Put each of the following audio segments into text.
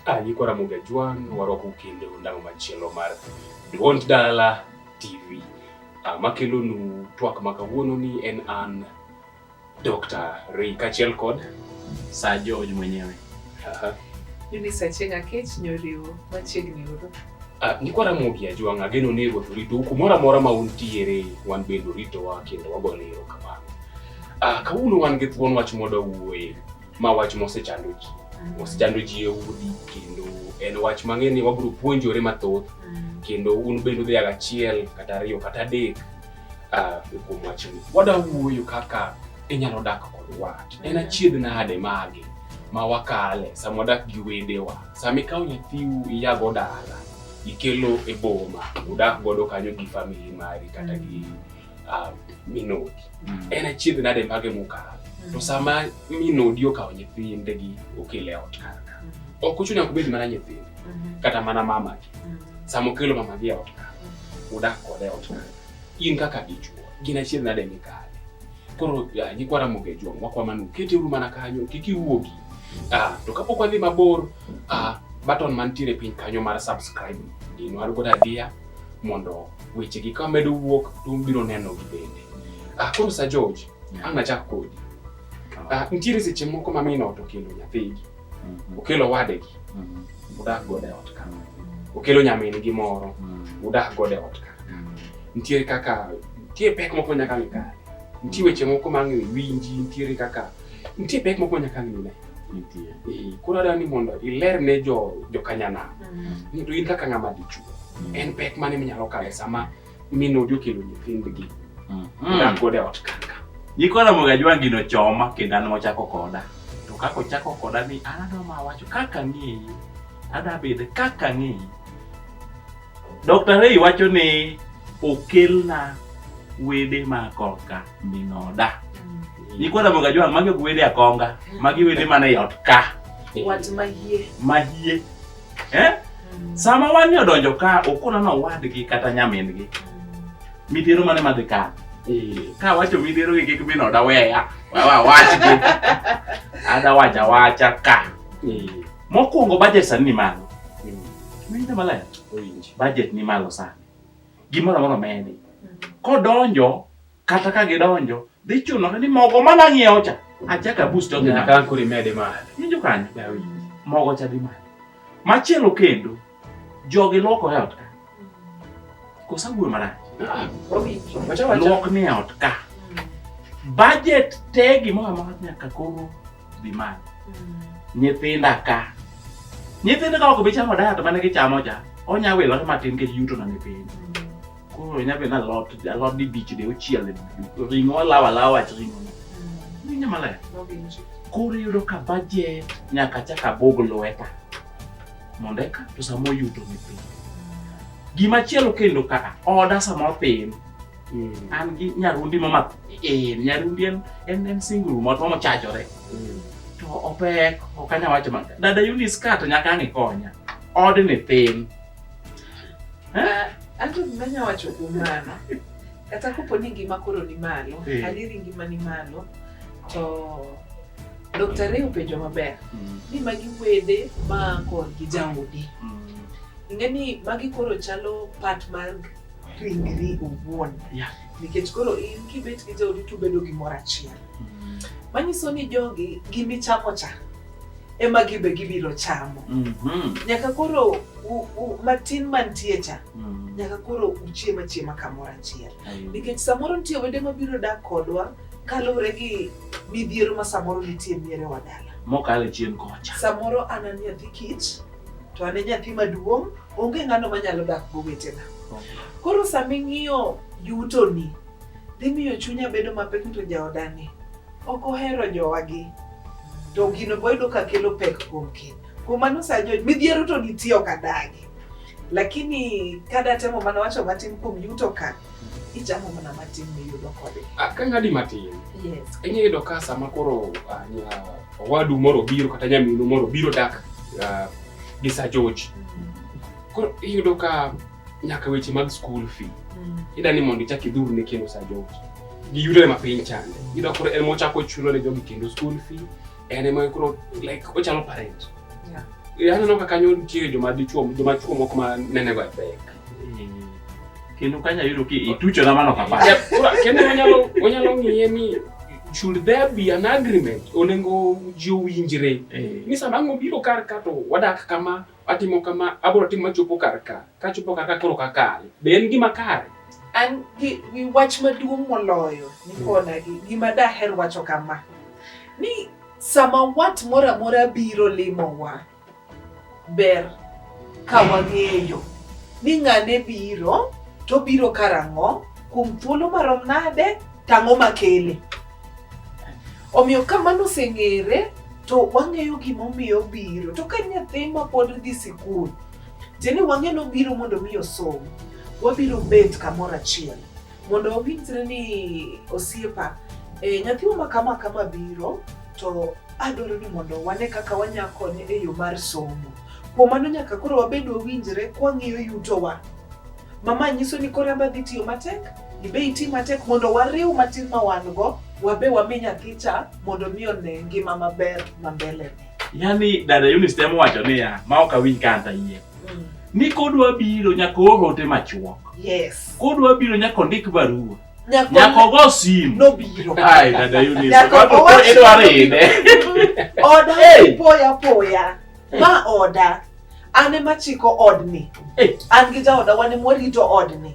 Alikuwa na Muga Juan warwako kinde undamo machielo mar Duond Dala TV. Ah, makelonu twak ma kawuononi en an Dr. Ray kachiel kod Sir George mwenyewe. Aha. Mimi sachega kech nyoriwo machiegni uru. Ah, niko Ramogi Ajwang' ageno ni ruoth orito u kumoro amora ma untiere wan bende oritowa kendo wagone erokamano. Ah, kawuono wan gi thuon wach moda wuoye ma wach mosechando ji mosechando ji e udi kendo en wach mang'e ni wabiro puonjore mathoth kendo un bende udhiaga achiel kata ariyo kata adek ah, kuom wachni. Wada wuoyo kaka inyalo dak kod wat. En achiedh nade magi ma wakale sama wadak gi wedewa. Sama ikawo nyathiu iyago dala, ikelo e boma, udak godo kanyo gi famili mari kata gi ah, minodi. En achiedh nade mage mokalo. To sama minodi okawo nyithindegi okele ot kar ka. Ok ochuno nyaka obed mana nyithinde kata mana mama Mm. Samo kelo mama gi ot ka. Udak kode ot ka. In kaka dichuo, gin achiel nade mikale. Koro ah, nyikwa Ramogi Ajwang' wakwa manu kete uru mana kanyo kik iwuogi. Ah, to kapok wadhi mabor, ah, button mantiere piny kanyo mar subscribe dinwar godo adiya mondo wechegi ka medo wuok to ubiro nenogi bende. Ah, koro Sir George, ang' nachak kodi. Ah, nitiere seche moko mamino to kendo nyathigi Mhm. Okelo wadegi, mhm. udak godo e ot ka. Okelo nyamin gi moro, mhm. udak godo e ot ka. Nitiere kaka, nitiere pek moko nyaka ni kare. Nitiere weche moko ma ng'e winji, nitiere kaka, nitiere pek moko nyaka ni ne. Nitiere. Eh, koro adwa ni mondo iler ne jo, jo kanyana. Mm. Ni to in kaka ng'ama dichuo. Mm. En pek mane minyalo kale sama mi nodhi okelo nyithindgi mm-hmm. odak godo e ot kaka nyikwa Ramogi Ajwangi nochoma kendo an mochako koda to kaka ochako koda ni an adwa ma wacho kaka ang'eyi adwa bede kaka ang'eyi Dr. Rei wacho ni okelna wede ma korka minoda mm. nyikwa Ramogi Ajwangi magi ok wede akonga magi wede mana e ot ka wach mahie mahie Eh? Sama wani odonjo ka okona na wadgi kata nyamingi. Midhiero mane madhi ka? Eh, ka wacho midhiero gi kik bino da weya. Wawa wachgi. Ada wacha wacha ka. Eh. Mokwongo budget sani ni malo. Winjo maler. Budget ni malo sani. Gimoro amoro medi. Kodonjo Kata ka gidonjo, dhi chunore ni mogo ma nang'iewo cha achaka bus to nyaka ankuri mede ma. Winjo kanyo. Mogo cha dhi malo. Machielo kendo jogi loko e ot ka. Kosa wuoyo marach. Ah, Lok ni e ot ka. Budget te gimoro amora nyaka koro dhi malo. Mm. Nyithinda ka. Nyithinda ka ok bi chamo diet mane gichamo cha, onya wilore matin kech yuto na ni piny. koro inya bedo ni alot alot dibich de ochiel ring'o alawo alawa wach ring'o winjo maler koro iyudo ka bajet nyaka chak abog lweta mondo eka to sama oyuto ni piny gima chielo kendo ka oda samoro piny an gi nyarundi mama eh, nyarundi en en, en single mot mama chajore to opek ok anya wacho ma dada Eunice ka to nyaka ang' ikonya od ni piny Ah, Anto gima nya wacho kuom mano. Kata kopo ni ngima koro ni malo, Eh. adieri ngima ni malo, to Dr. Ray openjo maber Mm, ni magi wede ma korgi jaodi. mm, Ing'e ni magi koro chalo part mar ringri owuon. Yeah. Nikech koro in kibet gi jaodi tubedo gimoro achiel. mm. Manyiso ni jogi gimichamo cha ema gibe gibiro chamo mm -hmm. nyaka koro u, u, matin mantie cha mm -hmm. nyaka koro uchiema chiema kamoro achiel nikech samoro nitie wede mabiro dak kodwa kaluwre gi midhiero ma samoro nitie miere wa dala mokale chien kocha samoro an an nyathi kich to an e nyathi maduong' onge ng'ano manyalo dak go wetena okay. koro sama ing'iyo yutoni dhi miyo chunya bedo mapek to jaodani ok ohero jowagi to gino boyudo ka kelo pek kuom keny kuom mano sajo midhiero to nitie ok adagi lakini kadatemo mana wacho matin kuom yuto ka ichamo mana matin miyudo kode ah, kang'adi matin yes. inyalo yudo ka sama koro ah, owadu moro biro kata nyaminu moro biro dak ah, gi Sir George mm. koro iyudo ka nyaka weche mag school fee mm. ida ni mondo ichak idhur ne kendo sa jogi giyudore ma piny chande ida koro en mochako chulo ne jogi kendo school fee en ema koro like ochalo parent yeah. Eh, aneno ka kanyo nitie joma dichuo joma chuo moko ma nenego e pek mm. kendo kanya yudo ki itucho na mano kapa kendo wanyalo wanyalo ng'iye ni should there be an agreement onego ji owinjre eh. ni sama ng'obiro kar ka to wadak kama Atimo kama, abiro timo machopo kar ka. Kachopo kar ka koro kakale. Be en gima kare? An gi, gi wach maduong' moloyo nikona gi gima daher wacho kama ni sama wat moro amora biro limowa ber ka wang'eyo ni ng'ane biro to biro karang'o kuom thuolo marom nade tang'o makele Omiyo ka mano oseng'ere to wang'eyo gimomiyo obiro. To ka nyathi ma pod dhi sikul, tiende ni wang'e ni obiro mondo mi osom, wabiro bet kamoro achiel mondo wawinjre ni osiepa, e, nyathiwa ma kama kama biro to adwaro ni mondo wane kaka wanyalo konye e yo mar somo. Kuom mano nyaka koro wabed wawinjre kwang'iyo yutowa. Mama nyiso ni koro en be adhi tiyo matek, Ibe iti matek mondo wariw matin ma wan-go wabe wami nyathicha mondo mi one ngima maber ma mbelene. Yaani dada Eunice temo wacho niya, ma ok awinj ka an tayie. Mm. Ni kodwa biro nyaka oor ote machuok. Yes. Kodwa biro nyaka ondik barua. Nyako, nyako go simu. No biro. Ai dada Eunice. Nyako go simu. Edwaro ine. Oda hey. poya poya. Ma oda. An ema chiko odni. Eh. An gi jaoda wan ema warito odni.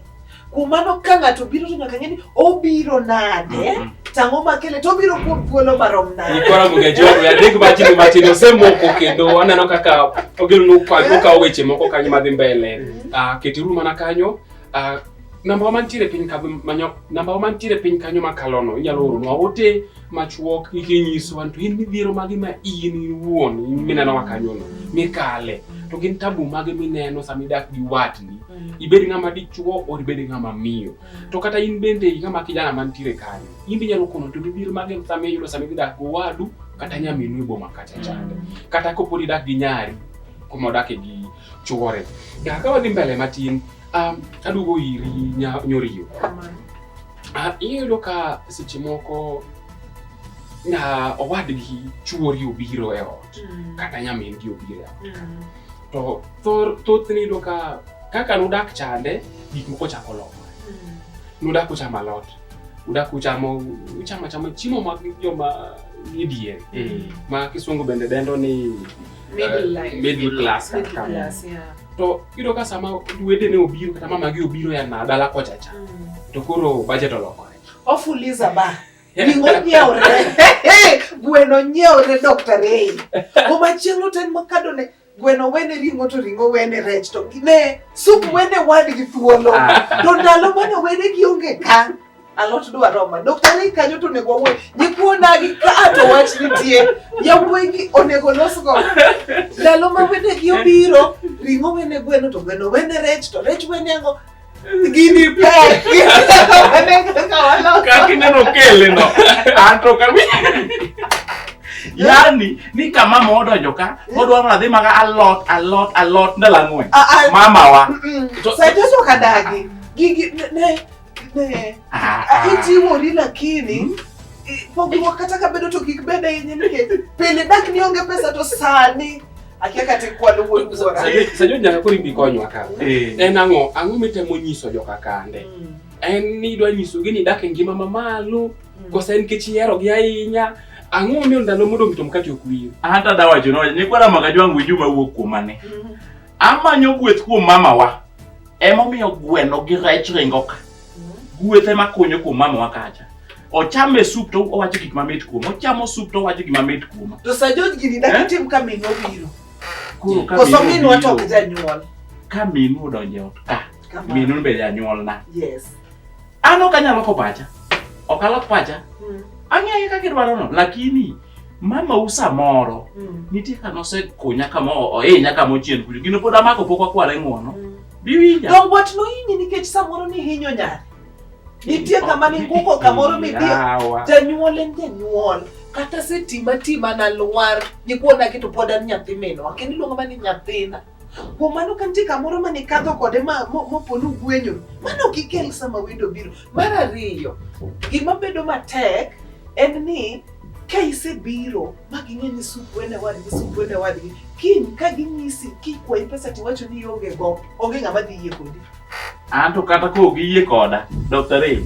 Kuom mano ka ng'ato biro to nyaka ng'e ni obiro nade, Mhm. tang'o makele to obiro kuom thuolo marom nade. Nilikuwa na mwengeji wangu ya Rick Martin Martin osemoko kendo aneno kaka ogero nukwa nukwa weche moko kanyo madhi mbele. Ah ketiru mana kanyo. Ah namba wa mantiere piny kanyo manyo namba wa mantiere piny kanyo makalono inyalo oro nwa ote machuok ikinyiso an to in midhiero mage ma in iwuon mineno ma kanyono mikale to gin tabu mage mineno sama idak gi watni mm. ibed ng'ama dichuo or ibed ng'ama miyo mm. to kata in bende ng'ama kijana mantiere kanyo in inyalo kono to midhiero mage sama iyudo sama idak go wadu kata mm. nyaminu e boma kacha chande kata kopod idak gi nyari kuma odake gi chuore nyaka ka wadhi mbele matin um, aduogo iri nyoriyo Ah, iyudo ka seche moko na owadgi chuori obiro e ot Mm. kata nyamingi obiro e ot Mm. to thor- thothne iyudo ka kaka nudak chande gik moko chako lokore Mm. nudak uchamo alot udak uchamo uchamo achama chiemo mag joma ni diere Mm. ma kisungu bende dendo ni middle class kata kamoro to yudo ka sama wedene obiro kata mamagi obiro ya na dala kocha cha mm. to koro budget olokore ofuliza ba ring'o nyieure gweno nyieure Dr. Ray kuma chieng' oten makado ne gweno wene ring'o to ring'o wene rech to ne sup wene wadgi thuolo ah. to ndalo mane wene gionge ka alot dwa roma doktari kanyo to onego wawuoy nyikuonagi ka to wach nitie yawuoyigi onego losgo ndalo ma wedegi obiro ring'o wene gweno to gweno wene rech to rech wene ngo gini pek kakineno kele no anto kawi yani ni ka mama odonjo ka odwa mana dhi maga alot alot alot ndalo ang'wen mamawa saitesokadagi gigi ne Ah, ah. Ijiwo ni lakini hmm? pogruok kata ka bedo to kik bed ahinya nikech pile dak ni onge pesa to sani akia kata kwalo wuon wuora. Sajo nyaka koro ibi konywa ka. Eh. En ang'o ang'o mitemo nyiso joka kande? Hmm. En ni idwa nyisogi ni dak e ngima mamalo hmm. kosa en kech iherogi ahinya ang'o omiyo ndalo modong' to mkate ok wiyo. Hata dawacho nowacho ni kwara maka jwangu juma wuok kuomane. Amanyo gweth kuom mamawa. Emomiyo gweno gi rech ringo ka. Gweth ema konyo kuom mamawa kacha. Ochamo e sup to owacho gik mamit kuom. Ochamo sup to owacho gik mamit kuom. To sa George gini dak Eh? itim ka minwa obiro. Koro ka Koso minu minwa to ok obiro- janyuol. ka minu odonjo e ot ka Kamano. minu be janyuolna Yes. An ok anyal loko pacha. Ok alok pacha. Mm. Ang'eyo kaka idwarono, lakini mama u samoro mm. nitie kama osekunya kama ohinya kama ochien kucho gino pod amako pok wakware ng'uono mm. biwinja to wat nohinyi nikech samoro nihinyo nyare nitie kama ninguko kamoro midhi janyuol en janyuol kata setima tima nalwar nyikuona keto pod an nyathi minwa kendo iluongo ma ni nyathina Kuom mano ka nitie kamoro ma nikadho kode mopo ni ugwenyo, mano ok ikel sama wendo biro. Mar ariyo, gima bedo matek en ni ka isebiro ma ging'e ni sup wene wadgi sup wene wadgi kiny ka ginyisi kikwayi pesa tiwacho ni onge go onge ng'ama dhi yie kodi an to kata ko giyie koda dr ray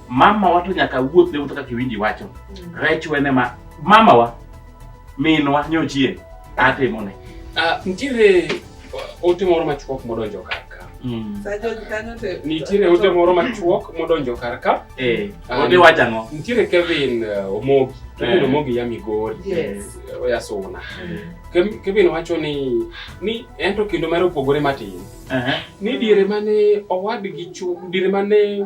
mama wa to nyaka wuoth ne wuotho kaka iwinji wacho mm. rech wene ma mama wa minwa nyochie atimone ah, nitiere uh, ote moro machuok modonjo kar ka mm. nitiere ote moro machuok modonjo kar ka eh, ah, ote wacho ang'o nitiere kevin uh, omogi kevin eh. omogi ya migori eh, oya suna mm. kevin wacho ni ni en to kendo mare opogore matin ni diere mane owadgi diere mane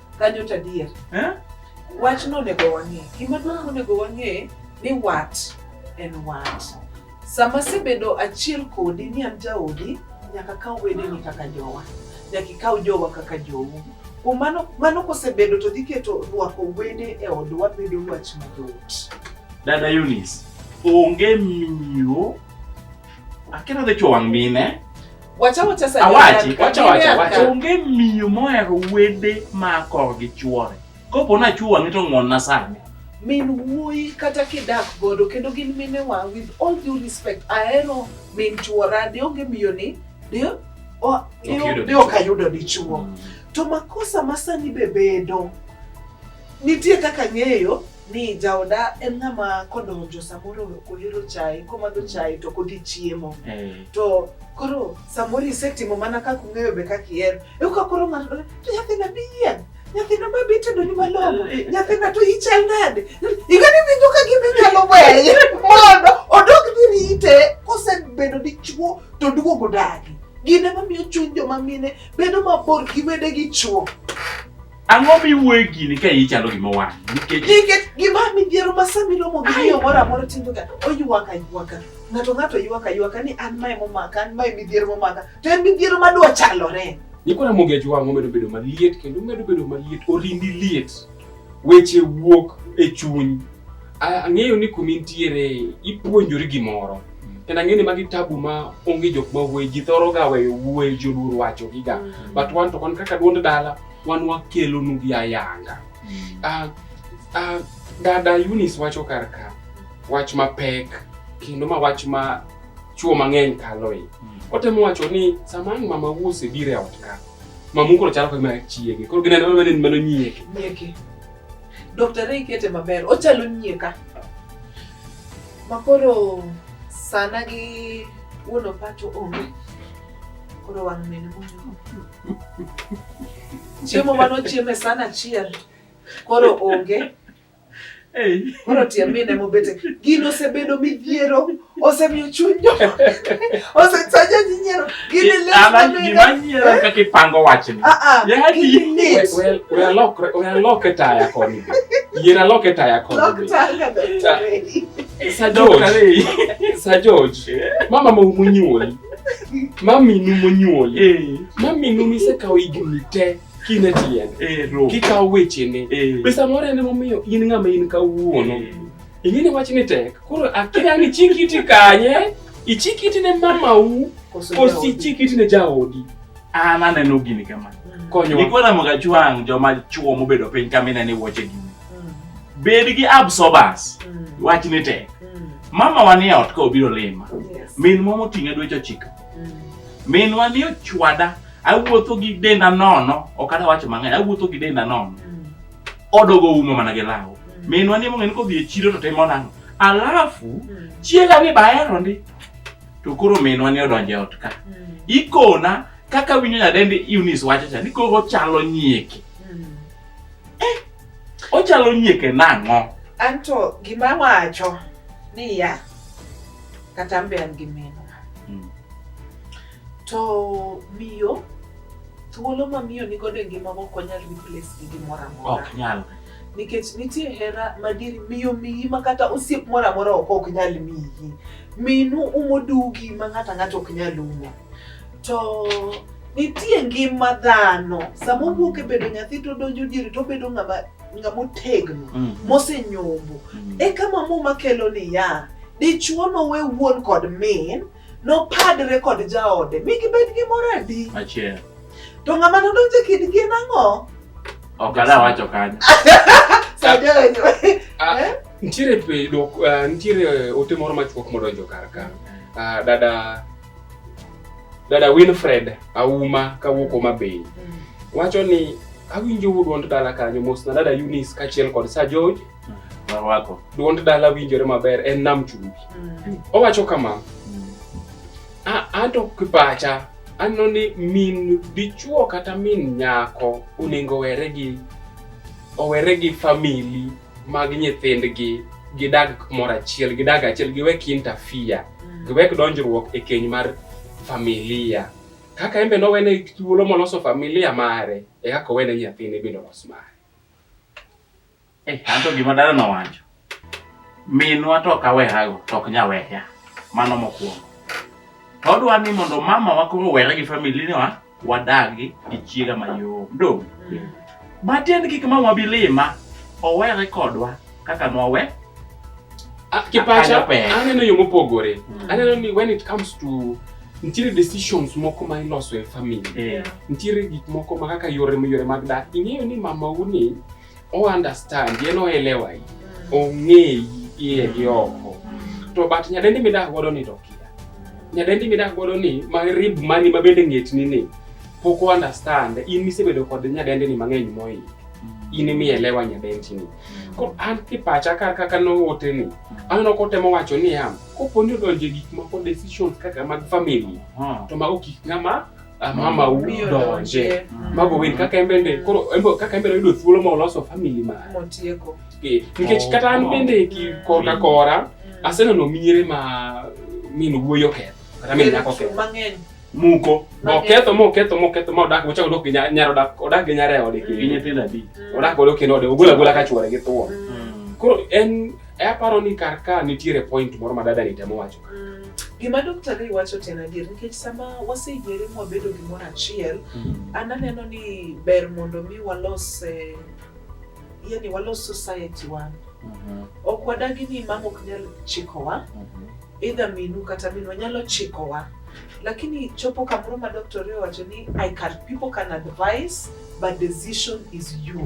kanyo to adier Eh? wach nonego wang'e gima duong' monego wang'e ni wat en wat sama asebedo achiel kodi ni an jaodi nyaka kaw wedeni kaka jowa nyaka ikaw jowa kaka jou kuom mano mano kosebedo to dhi keto rwako wede e odwa bedo wach mayot dada Eunice onge miyo Akena de chowang mine. Wacha wacha sa. Awachi, wacha wacha wacha. Onge miyo moher wede ma kor gi chuore. Kopo na chuwa ngito ngon na sani. Min wuoyi kata kidak godo kendo gin mine wa with all due respect ahero min chuora de onge miyo ni de o de ok ayudo dichuo. Mm. To makosa masani be bedo nitie kaka ng'eyo ni jaoda en ng'ama kodonjo samoro ok ohero chai komadho chai to kodhi chiemo Eh, to koro samoro isetimo mana kaka ung'eyo be kaka ihero eka koro ng'ato dole to nyathina bi yien nyathina ma be itedoni malong'o nyathina to ichal nade igani winjo ka gima inyalo weye mondo odog dhi rite kosebedo dichuo to duogo dagi gine mamiyo chuny joma mine bedo mabor gi wedegi chuo Ang'o miwuoye gini ka iyi chalo gima wang'? Nikech nikech gima midhiero ma sama iromo gi miyo moro amora timboga oywak aywaka ng'ato ng'ato ywak aywaka ni an mae momaka an mae midhiero momaka to en midhiero ma dwa chalore Nikora mogej wang' omedo bedo maliet kendo omedo bedo maliet, orindi liet. Weche wuok e chuny. A- Ang'eyo ni kuma intiere ipuonjori gimoro. Kendo ang'eyo ni magi tabu ma onge jok ma wuoye, ji thoro ga weyo wuoye, joluor wacho giga. But wan to wan kaka duond dala, wan wakelonu gi ayanga mm. uh, uh, dada Eunice wacho kar ka wach mapek kendo ma wach ma chuo mang'eny kaloe mm. otemo wacho ni sama ang' mama wuose biro e ot ka mamu koro chalo kagima chiege koro gineno mane ni mano nyieke nyieke Dr. Ray kete maber ochalo nyieka makoro sana gi wuon opacho onge koro wang' mene Chiemo mane ochieme sana achiel koro onge. Koro tie mine mobete gino osebedo midhiero, osemiyo chuny jo osesaja ji nyiero gini lemanyiero eh? kaka ipango wachni ah, ah, yalokre taya koni yier alok e taya koni Sir George, Sir George, mama mo munyuoli maminu monyuoli eh. maminu misekawo higni te kine tiende eh, kikawo wechene eh. be samoro en emomiyo in ng'ama in kawuono ing'eni wach ni tek koro akia ni chikiti kanye ichikiti ne mamau kosi ichikiti ne jaodi an aneno gini kama mm. konyoikwaramoga chwang' joma chuo mobedo piny kamineni wuoche gini mm. bed gi absorbers mm. wach ni tek Mama wa ni e ot ka obiro lima. Yes. Min mwa moting'e dweche ochiko. Mm. Min wa ni ochwada. Awuotho gi denda nono. Ok ada wacho mang'eny. Awuotho gi denda nono. Mm. Odogo umo mana gi law. Mm. Min wa ni mong'e ni kodhi e chiro to timo nang'o. Alafu mm. chiega ni bahero ndi. To koro min wa ni odonjo e ot ka. Mm. Ikona kaka winyo nyadendi Eunice wacho cha ni koro chalo nyieke. Eh, ochalo nyieke nang'o? Anto gima wacho ni ya kata mbe an gi meno. Hmm. To miyo thuolo ma miyo ni godo e ngima ok onyal replace gi gimoro amora. Ok nyal. Nikech nitie hera madier miyo miyi ma kata osiep moro amora ok nyal miyi. Minu umo dugi ma ng'ato ang'ata ok nyal umo. to nitie ngima dhano sama owuok e bedo nyathi to donjo diere to obedo ng'ama ng'ama otegno mm. mosenyombo mm. e kama muma kelo niya dichuo nowe wuon kod min nopadre kod jaode mi gibed gi mor adi to ng'ama nodonjo e kindgi en ang'o ok ada wacho kanyo ah, eh? nitiere eh, nitiere ote moro machuok modonjo kar ka ah, dada Dada Winfred Auma kawuok Homa Bay mm. wacho ni awinjo duond dala kanyo mos na dada Eunice kachiel kod Sir George warwako mm. duond dala winjore maber en nam chumbi mm. owacho kama anto kipacha aneno ni min dichuo kata min nyako onego owere gi owere gi famili mag nyithindgi gidag kumoro achiel gidag achiel giwek interfere mm. giwek donjruok e keny mar familia kaka embe nowene thuolo moloso familia mare e kaka owene nyathine bende olos mare eh, anto gima dala nowacho minwa to ok awehago to ok nyaweya mano mokwongo to odwa ni mondo mama wa koro were gi familia wa wadagi gi chiega mayom dong matiend kik mama bilima owere kodwa kaka nwawe Ah, kipacha Akanyo pek. aneno yo mopogore aneno ni when it comes to nitiere decisions moko ma iloso e family Eh, nitiere gik moko ma kaka yore yore mag dak ing'eyo ni mamau ni o understand yen oelewa yi ong'eyi iye gi oko to but nyadendi midak godo ni to kia nyadendi midak godo ni marib mani ma bende ng'etni ni pok o understand in misebedo kod nyadendi ni mang'eny moyi in imielewa nyadendi ni koro an kipacha kar kaka noote ni aneno kotemo wacho niya koponi odonje gik moko decisions kaka mag family to mago gik ng'ama ah, mama udonje mm. mago wen kaka en bende koro kaka en bende oyudo thuolo ma oloso family ma motieko eh, nikech kata an bende ki korka kora mm. aseneno miere ma min wuoyo ketho kata min nyako ketho mang'eny muko oketho moketho moketho ma odak mochako dok nyar odak odak gi nyare ode gi nyithindo adi mm. odak odok kendo ode ogula gula ka chwore gi thuon koro en e aparo ni kar ka nitiere point moro ma dada ni temo wacho Mm, gima Dr. Ray wacho to en adier nikech sama waseyiere ma wabedo gimoro achiel, Mm. an aneno ni ber mondo mi walos eh, yani walos society wa. Mhm. Ok wadagi ni mama ok nyal chikowa, Mhm. either minu kata minwa nyalo chikowa. Lakini chopo kamoro ma Dr. Ray wacho ni I can people can advise but decision is you.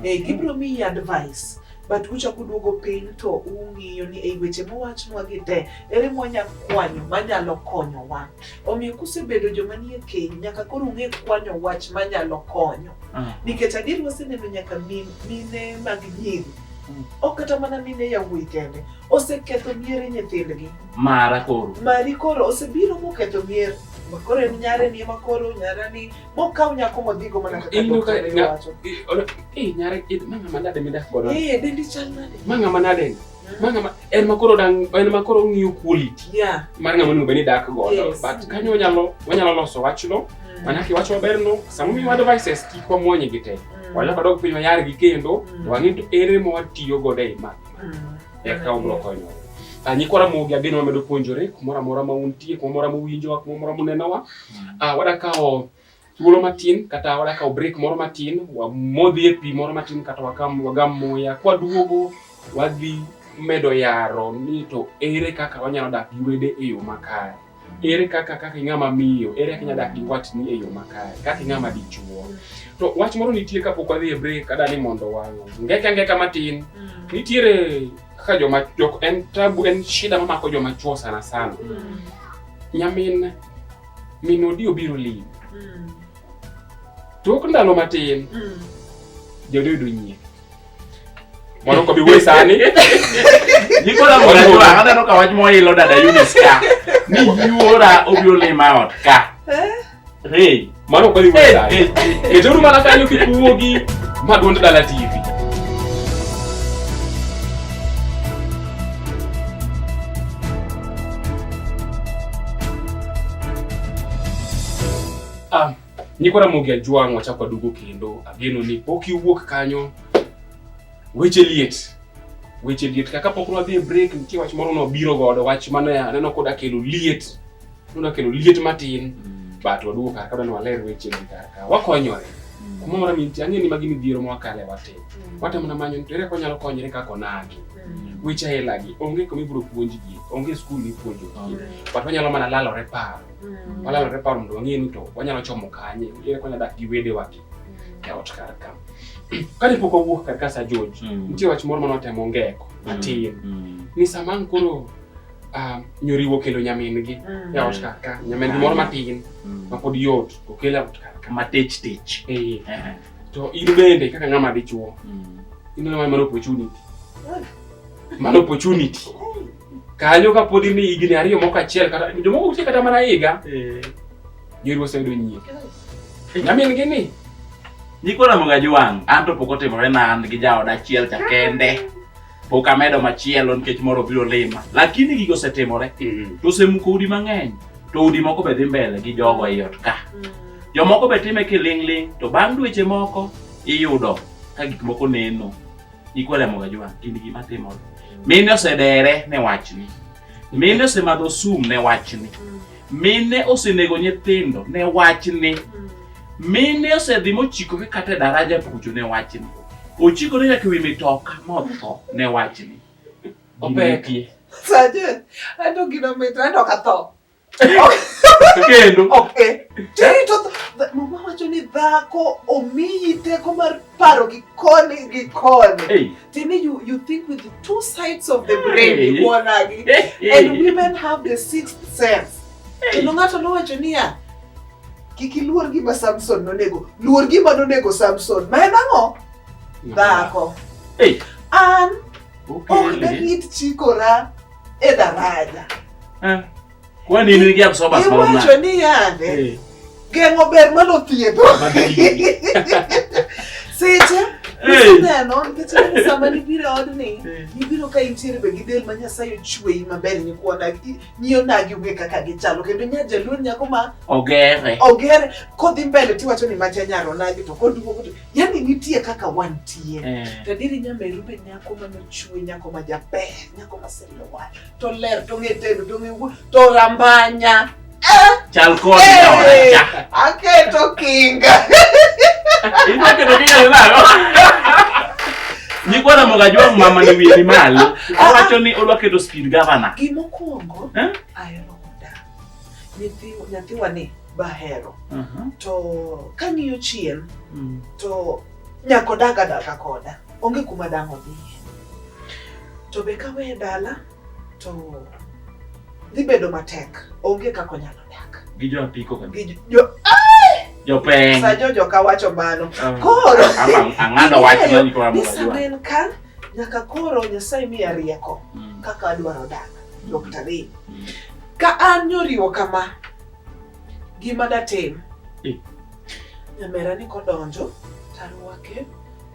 Eh, gibiro miyi advice but uchako uduogo piny to ung'iyo ni ei weche mowachnwa gi te ere mwanya kwanyo manyalo konyowa omiyo kusebedo joma nie keny nyaka koro ung'e kwanyo wach manyalo konyo mm. nikech adier waseneno nyaka mine mag nyiri mm. ok kata mana mine yawuoyi kende oseketho miere nyithindgi mara koro mari koro osebiro moketho mier makoro en nyare ni makoro nyara ni Mokaw nyako modhigo mana kaka Ineno ka daktari nga- wacho. i- ona- eh, nyare eh, ma ng'ama nade midak godo Eh, dendi chal nade? ma ng'ama nade ma ng'ama en ma koro dang en ma koro ng'iyo quality Yeah. mar ng'ama onego bed ni dak godo Yes. but kanyo wanyalo wanyalo loso wachno Mm. mana kiwacho maberno sama miwa devices kik wamwony gi te Mm. wanyalo kadok piny wayargi kendo Mm. to wang'e to ere ma watiyo godo ei ma Mm. eka ubiro konyowa Ah, nyikwa ramogi ageno wamedo puonjore kumoro amora ma untie kumoro amora muwinjowa kumoro amora munenowa Ah, wadakawo thuolo matin kata wadakawo break moro matin wamodhi e pi moro matin kata wakam wagam muya kwaduogo wadhi medo yaro ni to ere kaka wanyalo dak gi wede e yo makare ere kaka kaka ing'ama miyo ere kaka inyalo dak gi watni e yo makare kaka ing'ama dichuo to wach moro nitie kapok wadhi e break ada ni mondo wangeka ngeka matin nitiere kaka joma jok en tabu en shida mamako joma chuo sana sana Nyamin min odi obiro limi. Mm. Tok ndalo matin. Mm. Jodi yudo nyie. Mano ko bi we sani. Niko na mwana kwa hata no kawaj mo ilo dada Eunice ka. Ni yuora obiro lima ot ka. Eh? Hey, mano kweli wewe. Hey, hey. Keturu mara kanyo kikuogi madwond dala TV. Ah, niko na mogi ajwang wacha kwa dugu kendo ageno ni poki uwuok kanyo weche liet weche liet kaka pok nwadhi e break nitie wach moro nobiro godo wach mane aneno koda kelo liet Una kelo liet matin mm. but waduogo kar kadwa ni waler weche gi kar ka wakonyore mm. kuma mora minti ang'e ni magi midhiero mwakale watim mm. watemo na manyo nitere ko nyalo konyore kaka onagi weche hela gi onge kuma ibiro puonj gi onge skul mipuonjo gi but wanyalo mana lalore paro walalore paro mondo wang'e ni to wanyalo chomo kanye ere ko nyalo dak gi wedewa gi e ot kar ka kane pok wawuok kar ka sa George nitie wach moro mane watemo ngeko matin ni sama ang' koro ah, nyoriwo kelo nyamin-gi e ot kar ka. Nyamin-gi moro matin ma pod yot okel e ot kar ka. Matich tich. Ee. Ehe. To in bende kaka ng'ama dichuo, Mm. in ng'ama mano opportunity. Mano opportunity. Kanyo ka pod in higni ariyo moko achiel kata jomoko nitie kata mana higa, nyoriwo oseyudo nyiri. Nyamin-gi ni Nyikwa Ramogi Ajwang', an to pok otimore na an gi jaoda achiel cha kende. pok amedo machielo nikech moro biro lima lakini gigo osetimore mm. to osemuko udi mang'eny to udi moko be dhi mbele gi jogo ei ot ka mm. jomoko be time kiling'ling to bang' dweche moko iyudo ka gik moko neno ikwelemoga jwa gin gima timore mm. mine osedere ne wachni mine osemadho sum ne wachni mine osenego nyithindo ne wachni mine osedhi mochikogi kata e daraja kucho ne wachni ochikore nyaka ewi mitoka motho ne wachni Opek. Gimetie. Saje, ato gino mit, ato katho. Kendo. Okay. Jerry to mama wacho ni dhako omiyi teko mar paro gi koni gi koni. Hey. Tini you you think with the two sides of the brain hey. ikonagi. Hey. Hey. And women have the sixth sense. Hey. Kendo ng'ato nowacho niya kik iluor gima Samson nonego. Luor gima nonego Samson. Ma en ang'o? Dhako. Hey. An ok ne rit chikora edaraja eh. kwani in ingia msoba sababu na iwacho ni yande hey. Eh. geng'o ber malo thiedho seche Neno, nikech sama nibiro odni, nibiro ka intiere be gi del ma Nyasaye ochweyi maber nyikwana nyiyo nagi onge kaka gichalo kendo nya jaluo nyako ma ogere ogere kodhi mbele tiwacho ni macha nyaro nagi to koduogo yani nitie kaka wantie eh. to adieri nyameru be nyako manochwe nyako ma jaber nyako maselowa to ler to ng'e tedo to ng'e wuo to rambanya eh! chal kod eh! aketo kinga aketo kinga nalo nyikwa ramoga jwa mama ni wiye ni malo owacho ni odwa keto speed governor gimokwongo eh? ahero oda nyathiwa ni bahero Aha. to kang'iyo chien Mm. to nyaka odag adaga koda onge kuma dang' odhiye to be kaweye dala to dhi bedo matek onge kaka onyalo dak Gi jo apiko ka. Gi jo- Jopeng. sa jojo ka wacho mano Ah. koro Ama ang'ado wach Ing'eyo mani kwa ni mwa sama jua. en ka nyaka koro nyasaye miya rieko Mm. kaka adwaro dak dr Ray. Mm. ka an nyoriwo kama Gima datim. Eh. Nyamera ni kodonjo tarwake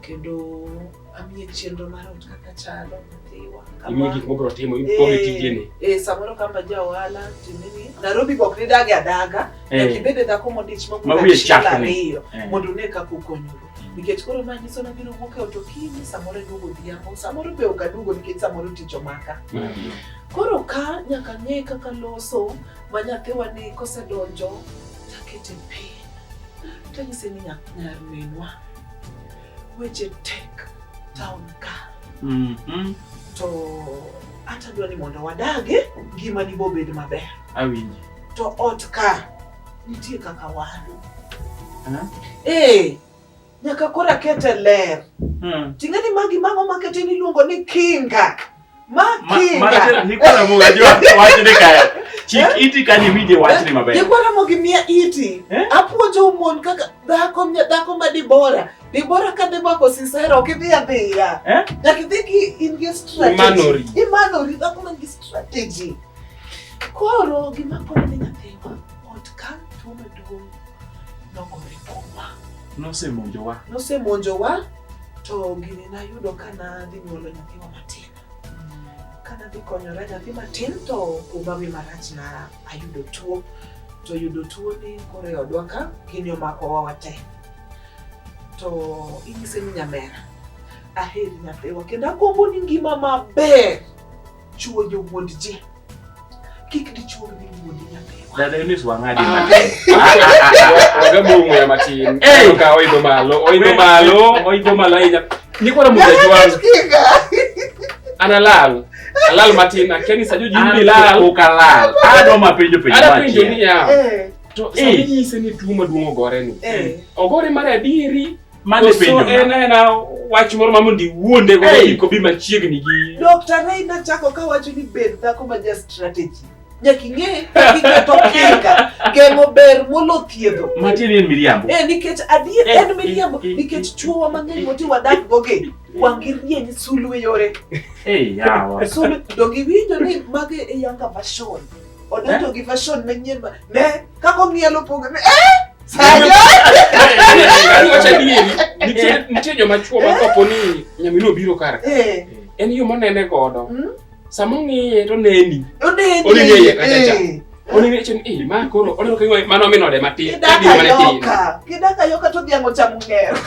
kendo amiye chenro mar ot kaka chalo nyathiwa imiye gik mobiro timo ipoge eh, tijene eh samoro kamba ja ohala timini Nairobi bok ni dage adaga eh. nyaka ibed e dhako modich mabuda chiel ariyo eh. mondo une kaka ukonyuru nikech koro ma nyiso na biro wuok e ot okinyi samoro iduogo odhiambo samoro be ok aduogo nikech samoro tich omaka mm-hmm. koro ka nyaka ng'e kaka loso ma nyathiwa ni kosedonjo takete piny tanyise ni nyar minwa weche tek town ka mm -hmm. to ata dwa ni mondo wadage ngima ni bobed maber awinji to ot ka nitie kaka wadu huh? Eh. hey. nyaka koro akete ler Hmm. ting'e ni magi mang'o makete niluongo ni kinga ma Ma- kinga Marachel, nikwara mo wajua wachne kaya. Chik iti kanyo iwinje wachne maber. Nikwara mo gi mia iti Eh? apuonjo mon kaka dhako nya- dhako ma dibora dibora ka dhi mako sisera ok idhi adhiya Eh? nyaka idhi ki in gi strategy Imanori. imanori dhako man gi strategy koro gima konyo ni nyathi nogore kuomwa. Nosemonjowa. Nosemonjowa to gini nayudo ka nadhi nyuolo nyathiwa matin. Ka nadhi konyora nyathi matin to kumba wi marach na ayudo tuo. To yudo tuo ni koro e odwa ka gini omakowa wate. To inyise ni nyamera aheri nyathiwa kendo agombo ni ngima maber. chuojo wuod ji kik dichuog ni wuod nyapewa dada Eunice wang'adi ah. matin waga bongo ya matin ka oidho malo oidho malo oidho malo ahinya nikwara mujajwa analal alal matin akeni sajo jimbi lal ukalal ado mapenjo penjo matin ado penjo ni ya eh. to sami eh. nyise ni tuo maduong' ogore ni eh. ogore mar adieri Mane Koso penjo en na. ena wach moro ma mondo iwuonde go Hey! iko bi machiegni gi Dr. Ray nachako kawacho ni bed dhako ma ja strategy. Nyaka ing'e kaka iketo kinga geng'o ber molo thiedho. Matin en miriambo. Eh, nikech adier Eh, en miriambo eh, eh, nikech eh, chuowa mang'eny eh, moti wadak goge wang'i rieny sulwe yore Eh, yawa. sulwe to giwinjo ni mage e yanga version odonjo gi version manyien ma ne kaka ong'ielo pogre eh nitie joma chuo ma kopo ni nyamino biro kar eh. en yo monene godo hmm? sama ong'iye to neni oneni eye kachacha eh. oneni chen e ma koro oneno ka gima mano minode matin gima ne tin kidaka yoka to dhiang' ochamo ng'ero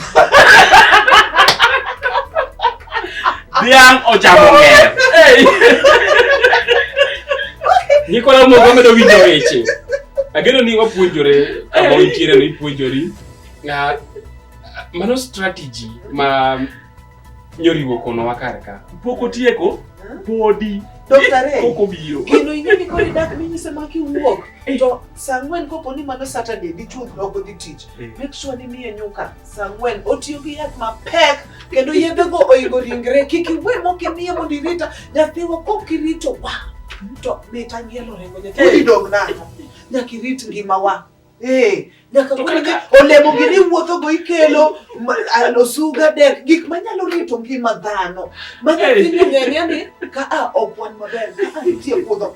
Dhiang' ochamo ng'er. Nyikwa na mogo medo winjo weche. Ageno ni wapuonjore kama intiere ni ipuonjori. Na mano strategy ma nyoriwo kono wakar ka. Pok otieko podi. Dokta Ray, Pok obiro. gino ing'e ni koro idak minyise ma kiwuok to saa ang'wen kopo ni mano Saturday dichwo ok odhi tich. Eh. Make sure ni miye nyuka. Samuel otiyo gi yath mapek kendo yedhego oingo ringre kik iwe mok imiye mondo irita nyathiwa kok irito wa to mit anyielo rengo nyathiwa idog nang'o nyaka irit ngimawa ee nyaka kaka olemo gi ni wuotho go ikelo osuga dek gik manyalo rito ngima dhano ma nyathini ng'enyani ka a ok wan maber ka a nitie puodho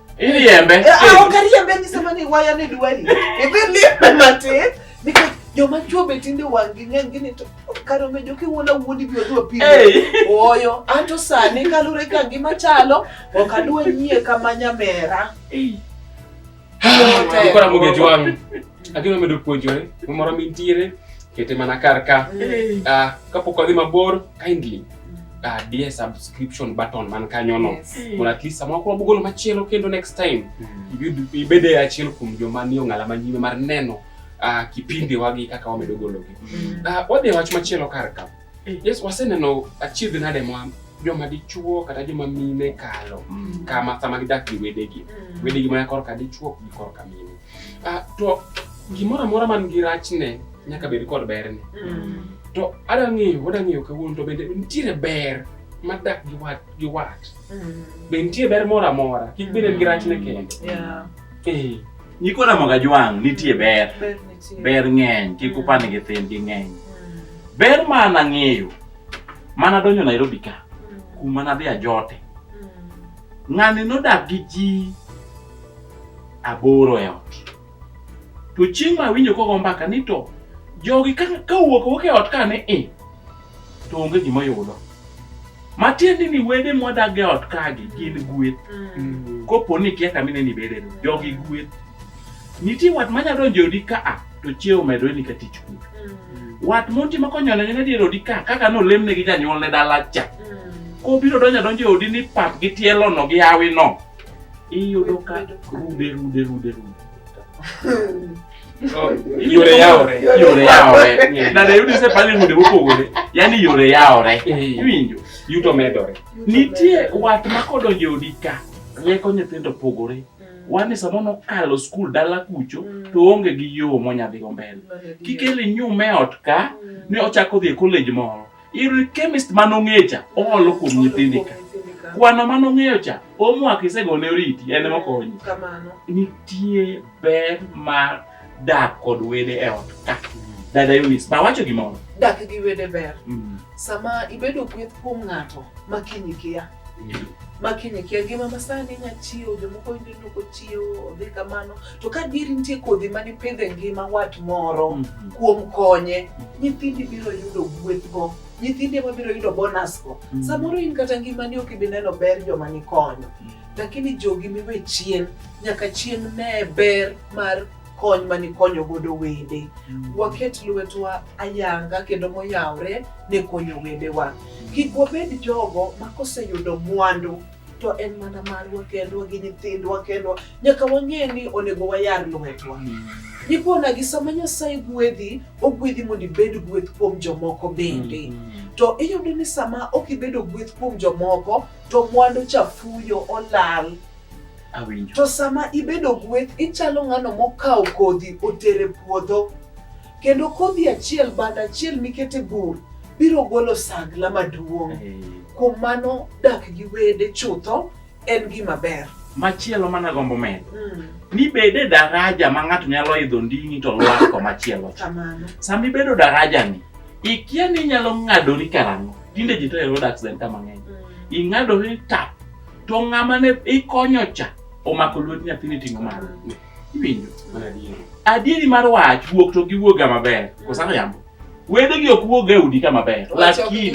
Iriembe. Eh, ah, ok ariembe nyisa mani waya ni dwari. Idhi limbe matin. Nikech joma chuo be tinde wang'gi ng'eny gini to kare omejo kiwuondo wuondi bi odhi opimo oyo anto sani kalure ka ngima chalo ok adwa nyie kama nyamera Ukora mugejwang. Agino medo puonjore moro mintiere kete mana kar ka. Uh, kapok wadhi mabor kindly uh, dear subscription button man kanyono yes. Mm. mondo at least samoro koro bugolo machielo kendo next time mm. ibede achiel kuom joma ni ong'ala manyime mar neno uh, ah, kipindi wagi kaka wamedo gologi mm. uh, wadhi wach machielo kar ka mm. yes waseneno achiedh nade mwa joma dichuo kata joma mine kalo mm. kama sama gidak gi wedegi mm. wedegi mana korka dichuo gi korka mine Ah, to gimoro amora man gi rachne nyaka bed kod berne. Mm. To ada ng'eyo, wada ng'eyo kawuono to bende nitiere ber madak gi wat gi wat. Mm. Be nitie ber moro amora, kik bed en gi rachne kende. Yeah. Eh, Nyikwa Ramoga Jwang' nitie ber. Ber nitie. Ber ng'eny, kik upand nyithindgi ng'eny. Mm. Ber ma an ang'eyo, mana donjo Nairobi ka, Mm. kuma nadhi ajote. Mm. Ng'ani nodak gi ji aboro e ot. To chieng' ma awinjo kogo mbaka ni to jogi ka owuok wuok e ot ka ni i, to onge gima yudo. Matiende ni wede mwadag e ot kagi gin gweth. Mm. Kopo ni kia kamine ni bede no, jogi gweth. Nitie wat ma nyalo donjo e odi ka a, to chiewo medore ni ka tich kuno. Mm. Wat monti ma konyo ne nyine dier odi ka, kaka nolem ne gi janyuolne dala cha. Mm. Kobiro donjo adonjo e odi ni pap gi tielo no gi hawi no. iyudo ka rude rude rude rude Yore yawore. yore yawore na dayudi se pale rude mopogore yani yore yawore iwinjo yuto medore nitie wat ma kodonjo e odi ka rieko nyithindo opogore wan e sama nokalo skul dala kucho to onge gi yo monyadhigo mbele kikele nyume ot ka ne ochako dhi e college moro Iri chemist mane ong'eyo cha oolo kuom nyithindi ka. Kwano mane ong'eyo cha omwako isegone oriti en ema okonyi. Kamano. Nitie ber mar dak kod wede e ot ka. Dada Eunice, ba wacho gimoro. Dak gi wede ber. Mm. Sama ibedo gweth kuom ng'ato ma kiny ikiya. makiny kia ngima masani inya chiewo jomoko winjo ni ok ochiewo odhi kamano to ka dieri nitie kodhi mane pidho e ngima wat moro Mhm. kuom konye nyithindi biro yudo gwethgo nyithindi ema biro yudo bonusgo Mhm. samoro in kata ngimani ok ibi neno ber joma nikonyo lakini jogi miwe chien nyaka chien ne ber mar kony ma nikonyo godo wede mm. waket lwetwa ayanga kendo moyawre ne konyo wedewa kik wabed jogo ma koseyudo mwandu to en mana marwa kendwa gi nyithindwa kendwa nyaka wang'e ni onego wayar lwetwa mm. nikona gi sama nyasaye gwedhi ogwedhi mondo ibed gweth kuom jomoko bende mm -hmm to iyudo ni sama ok ibedo gweth kuom jomoko to mwandu cha fuyo olal Awinjo. To sama ibedo gweth, ichalo ng'ano mokawo kodhi otere puodho. Kendo kodhi achiel bad achiel mikete bur biro golo sagla maduong'. Hey. Kuom mano dak gi wede chutho en gima ber. Machielo mana gombo medo. Mm. Ni bede daraja ma ng'ato nyalo idho nding'i to lwako machielo. Kamano. Sama ibedo daraja ni, ikia ni inyalo ng'adori karang'o. Tinde ji to hero dak zen kama ng'eny. Mm. Ing'adori tap to ng'ama ne ikonyo cha omako lwet nyathini ting'o malo iwinjo adieri mar wach wuok to giwuoga maber kosano yambo wedegi ok wuog e udi ka maber lakini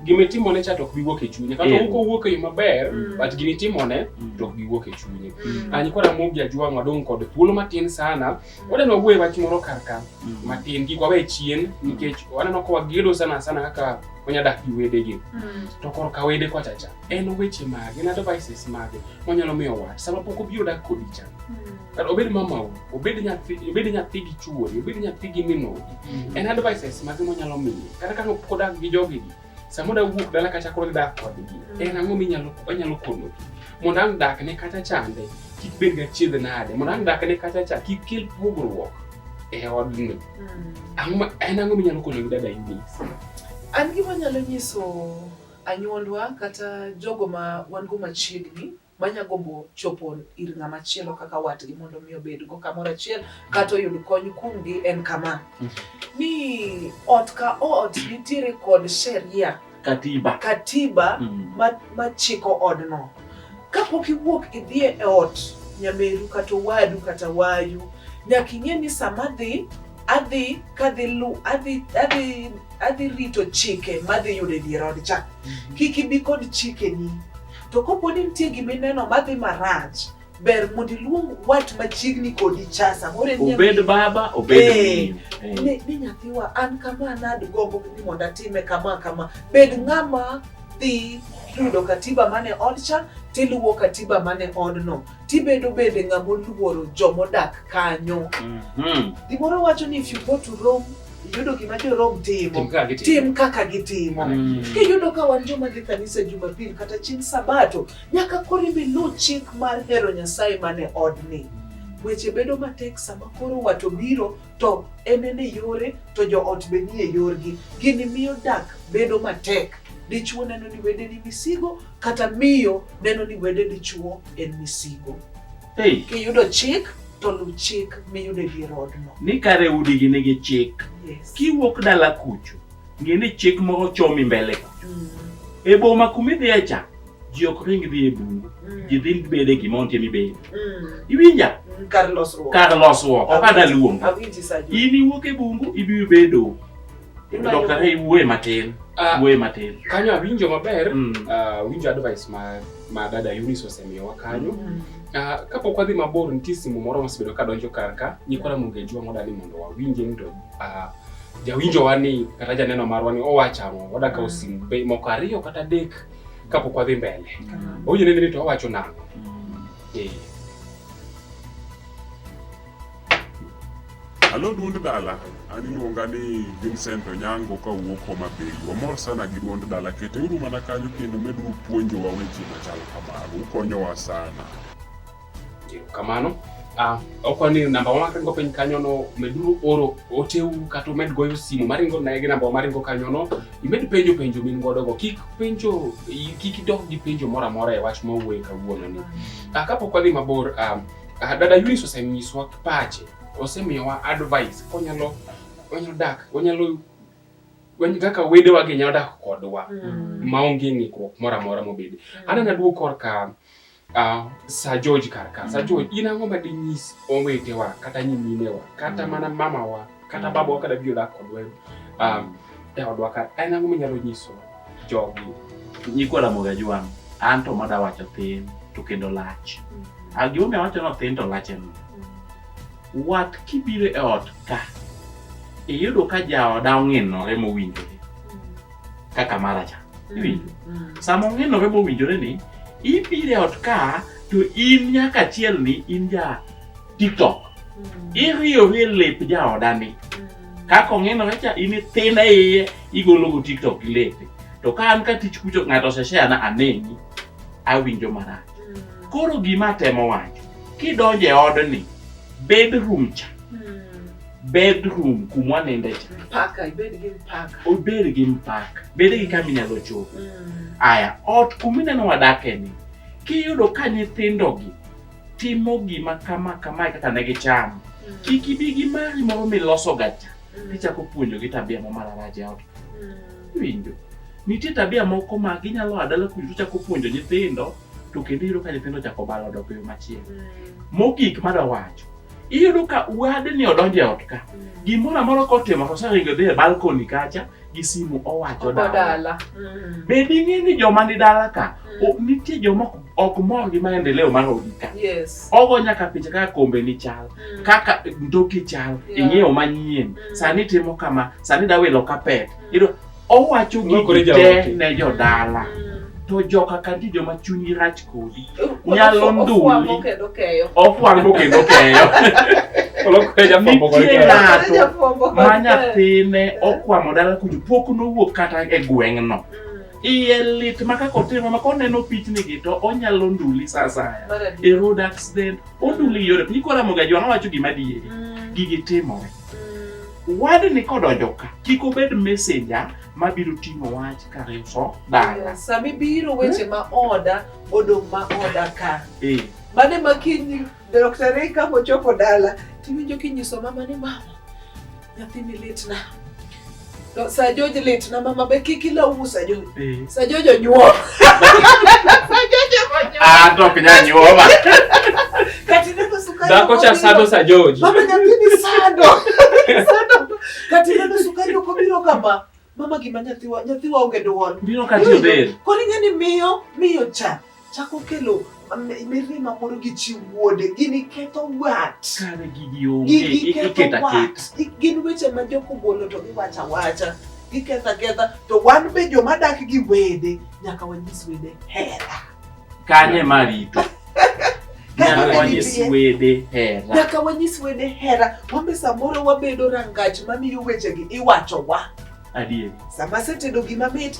gimitimone cha to ok giwuok e chunye kata eh. ok owuok e yo maber mm. but gimitimone mm. to ok giwuok e chunye mm. anyi kora mogi ajwang'wa dong' kod thuolo matin sana Wadeno wuoye wach moro kar ka mm. matin kik wawe chien nikech waneno ka wagedo sana sana kaka wanya dak gi wedegi mm. to kor ka wede kwa chacha en weche mage en advices mage wanyalo miyo wach sama pok obiro dak kodi cha mm. kata obed mamau obed nyathi obed nyathi gi chuori obed nyathi gi minodi en advices mage wanyalo miye kata ka pok odak gi jogi Sama da wuok dala kata koro dak kodgi, mm. en ang'o minyalo wanyalo konogi? Mondo ang' dakne kata chande kik bed gachiedh nade, mondo ang' dakne kata cha kik kel pogruok e odni. Mm. En ang'o minyalo konogi dada Eunice? An gima nyalo nyiso anyuondwa kata jogo ma wan go machiegni manya gombo chopo ir ng'ama chielo kaka watgi mondo mi obedgo kamoro achiel kata oyud kony kuomgi en kama ni ot ka ot nitiere kod sheria katiba katiba Mm. ma- machiko odno kapok iwuok idhi e ot nyameru kata owadu kata wayu nyaka ing'e ni sama adhi adhi kadhi lu adhi adhi adhi rito chike madhi yudo e dier odcha kik ibi kod chikeni To kopo ni nitie gima ineno madhi marach, ber mondo iluong wat machiegni kodi cha samoro en obed nyamin. baba obed Eh, min. Eh. ni, ni nyathiwa an kama nadgombo ni mondo atime kama kama bed ng'ama dhi yudo katiba mane odcha tiluwo katiba mane odno tibedo bende ng'ama oluoro joma odak kanyo. Mhm. Gimoro wacho ni if you go to Rome, iyudo gima jo-Rome Tim timo, kaka gitimo. tim kaka gitimo. Mm. Kiyudo ka wan joma dhi kanisa Jumapil kata chieng' Sabato, nyaka koro ibi luw chik mar hero Nyasaye mane odni. Weche bedo matek sama koro wat obiro to en en e yore to joot be ni e yorgi. Gini miyo dak bedo matek. Dichwo neno ni wede ni misigo kata miyo neno ni wede dichwo en misigo. Hey. Kiyudo chik to luw chik miyudo e dier odno. Ni kare udi gi nigi chik. Yes. Kiwuok dala kucho, ng'e ni chik moro chomi mbele kucho. Mm. E boma kumidhiye cha, ji ok ring dhi e bungu mm. ji dhi bed e gima ontie mibedi mm. iwinja mm, kar losruok kar losruok ok ada luong in iwuok e bungu ibiro bedo dokta hey wuoye matin ah, wuoye matin kanyo awinjo maber ah, awinjo advice ma ma dada Eunice osemiyowa kanyo ah, kapok wadhi mabor nitie simu moro mosebedo ka donjo kar ka nyikora mongejwa modani mondo wawinje ni to jawinjowa ni kata janeno marwa ni owacho ang'o wadakawo simu moko ariyo kata adek kapok wadhi mbele owinjo nene ni to awacho nang'o Eh, Alo duond dala, an iluonga ni Vincent Onyango ka wuok Homa Bay. Wamor sana gi duond dala, keteuru mana kanyo kendo meduru puonjowa weche machal kamago, ukonyowa sana. Kamano. Ah, okwa ni namba wa maringo piny kanyo no meduru oro oteu kata umed goyo simu maringo naye gi namba wa maringo kanyo no imed penjo penjo min godo go kik penjo kik idog gi penjo moro amora e wach mawuoye kawuono ni ah, kapok wadhi mabor ah, ah, dada Yunis osenyiswa pache osemiyowa advice konyalo onyalo dak onyalo wen kaka wedewa gi nyalo dak kodwa mm. maonge ng'ikruok moro amora mobedi mm. anana duo korka Uh, Sir George Karka, Sir George, in ang'o ma dinyis owetewa kata nyiminewa kata mm. mana mamawa kata mm. babawa kada biro dak kodwa um, e odwa ka en ang'o minyalo nyiso jogi? Nyikwa Ramogi Ajwang', an to mada wacho thin to kendo lach. Mm. Ah, Gimomiyo awacho no thin to lach en wat kibiro e ot ka iyudo ka jaoda ong'inore mowinjore kaka mara cha iwinjo sama ong'inore mowinjore ni ibiro e ot ka to in nyaka achiel ni in ja tiktok iriyori e lep jaodani kaka ong'inore cha in ithin e iye igologo tiktok gi lepe to ka an ka tich kucho ng'ato oseshare na aneni awinjo marach koro gima atemo wacho kidonjo e odni bedroom cha bedroom kuma waninde cha Paka, ibed gi mpaka. obed gi mpaka bed gi kama inyalo chopo Mm. aya ot kuma ineno wadake ni kiyudo ka nyithindogi timo gima kama kamae kaka ne gichamo Mm. kik ibi gi mari moro milosoga cha Mm. tichako puonjogi tabia ma mararach e ot Mm. winjo nitie tabia moko ma ginyalo a dala kucho chako puonjo nyithindo to kendo iyudo ka nyithindo chako balo dok e yo machielo Mm. mogik madawacho iyudo ka wadni odonjo e ot ka gimoro amora kotimo to oseringo dhi e balkoni kacha gi simu owacho dala Odala. Mm. be ding'e ni joma ni dala ka Mm. o- nitie joma ok- ok mor gi maendeleo mar odi ka Yes. ogo nyaka picha kaka kombe ni chal Mm. kaka ndoki chal Yeah. ing'iewo manyien Mm. sani timo kama sani dawilo kapet Mm. iyudo owacho gigi te ne jodala to joka ka nitie joma chunygi rach kodi nyalo nduli ofwango kendo keyo nitie ng'ato ma nyathine okwamo dala kuju pok nowuok kata e gweng'no iye lit ma kaka otimo ma koneno pichnigi to onyalo nduli sa asaya e road accident onduli yore piny koramoga jwang'a wacho gima dieri gigi timore Wadni kodonjo ka kik obed messenger ma biro ting'o wach ka riso dala. Sama ibiro weche ma oda odong' ma oda ka. Eh. Mane ma kiny Dr. Ray ka ochopo dala tiwinjo kinyiso mama ni mama nyathini litna. No, Sir George lit na mama be kiki la umu Sir George. Eh. Sir George onyuo. Sir George onyuo. Ah, to kenya nyuo ma. Kati neno sukari. Dako cha sado Sir George. Mama nyathini sado. Sado. Kati neno sukari uko biro kama. Mama gima nyathiwa nyathiwa onge duol. Biro kati be. Koni ngani miyo miyo cha. chako kelo mirima moro gi chi wuode, gini ketho wat. Kare gigi onge, iketa ket. Gin weche ma jok ogolo to giwacha wacha, giketha ketha, to wan be joma dak gi wede, nyaka wanyis wede hera. Kanye ma rito? Nyaka wanyis wede hera. Nyaka wanyis wede hera. Wambe samoro wabedo rangach mamiyo wechegi iwachowa. Adier. Sama asetedo gima mit,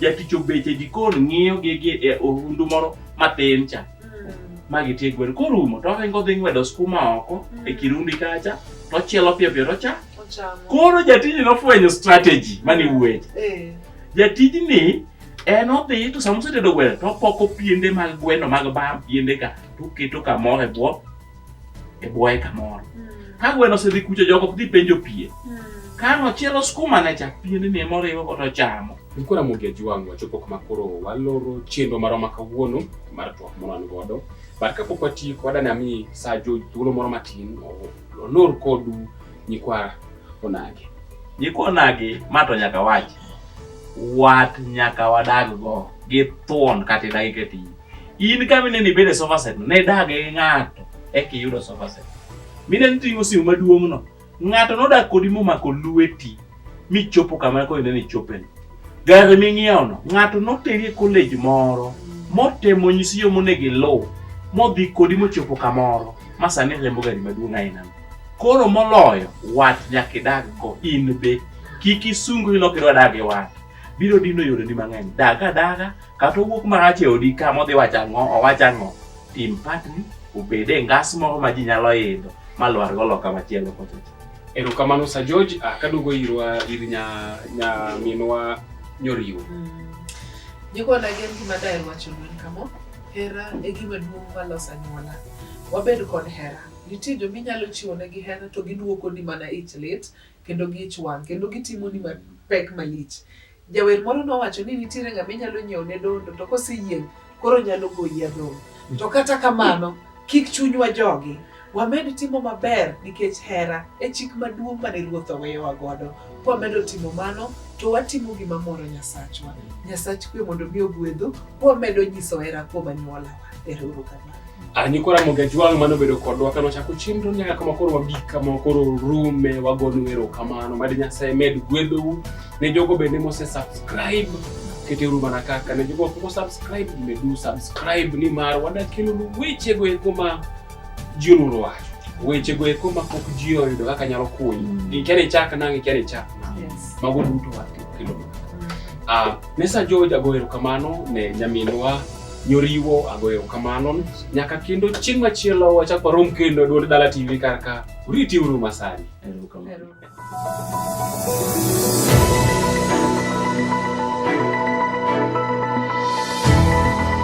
jatich obet e jikon ng'iyo gigi e ohundu moro matin cha ma gitie gwen korumo to oringo dhi ng'wedo skuma oko e kirundi kacha to ochielo piyo piyo to cha Ochamo. koro jatijni nofwenyo strategy mane wuoye Eh. jatijni en odhi to sama osetedo gweno to opoko piende mag gweno mag bam piende ka to oketo kamoro e bwo e bwoye kamoro ka gweno osedhi kucho jogo ok dhi penjo pien ka nochielo skumane cha piende ne moriwo godo chamo Nilikuwa na Mugia Juang wachopo kama koro waloro chenro marwa ma kawuono mar twak moro an godo. But kapok watieko wadani ami saa jo thuolo moro matin o- olor kodu nyikwa onage. jikonagi ma to nyaka wach wat nyaka wadag go gi thuon kata idagi keti In kama inene ibede e sofa set ne dage gi ng'ato eka iyudo sofa set. Mine niting'o simu maduong'no. Ng'ato nodak kodi momako lweti michopo kama koro inene ichopeni. Gari ming'iewono ng'ato noteri e college moro motemo nyisi yo monego iluw modhi kodi mochopo kamoro ma sani riembo gari maduong' ainano. Koro moloyo wat nyaka idag go in be kik isungri lok idwa dag gi wat biro dino yoreni mang'eny. Dag adaga. kata owuok marach e odi ka modhi wacho ang'o owach ang'o tim patni obed e ngas moro ma ji nyalo idho ma lwar go loka machielo kochocho erokamano sa george ah, kaduogo irwa ir nya nya minwa nyoriwo Jikwana gin gima daher wacho ni kamo, hera e gima duong' maloso anyuola. Wabed kod hera. Nitie joma inyalo chiwo negi hera to giduokoni mana ich lit kendo gi ich wang' kendo gitimoni mapek malich. Jawer moro nowacho ni nitiere ng'ama inyalo nyiewo ne dondo to koseyieng' koro nyalo goyi adhong'. To kata kamano, kik chunywa jogi. Wamed timo maber nikech hera e chik maduong' mane Ruoth oweyowa godo. Kwamedo timo mano, to watimo gima moro Nyasachwa. Nyasach kwe mondo mi ogwedhu, kwamedo nyiso hera kuom anyuola. Ah, ni kora moga jwang mano bedo kodwa kano chako chenro nyaka kama koro wabik kama koro rume wagonu ero kamano mad nyasaye med gwedhou ne jogo bende mose subscribe kete uru mana kaka ne jogo poko subscribe medu subscribe ni mar wadakelonu wechego eko ma ji onuro wacho wechego eko ma pok ji oyudo kaka nyalo kunyo mm. ikia ni chak nang ikia ni chak nang yes. mago duto wakelonu mm. ah, ne sa jo jago ero kamano ne nyaminwa Nyoriwo agoyo kamano nyaka kendo chieng' machielo wachak warom kendo duond dala TV karka uriti uru masani.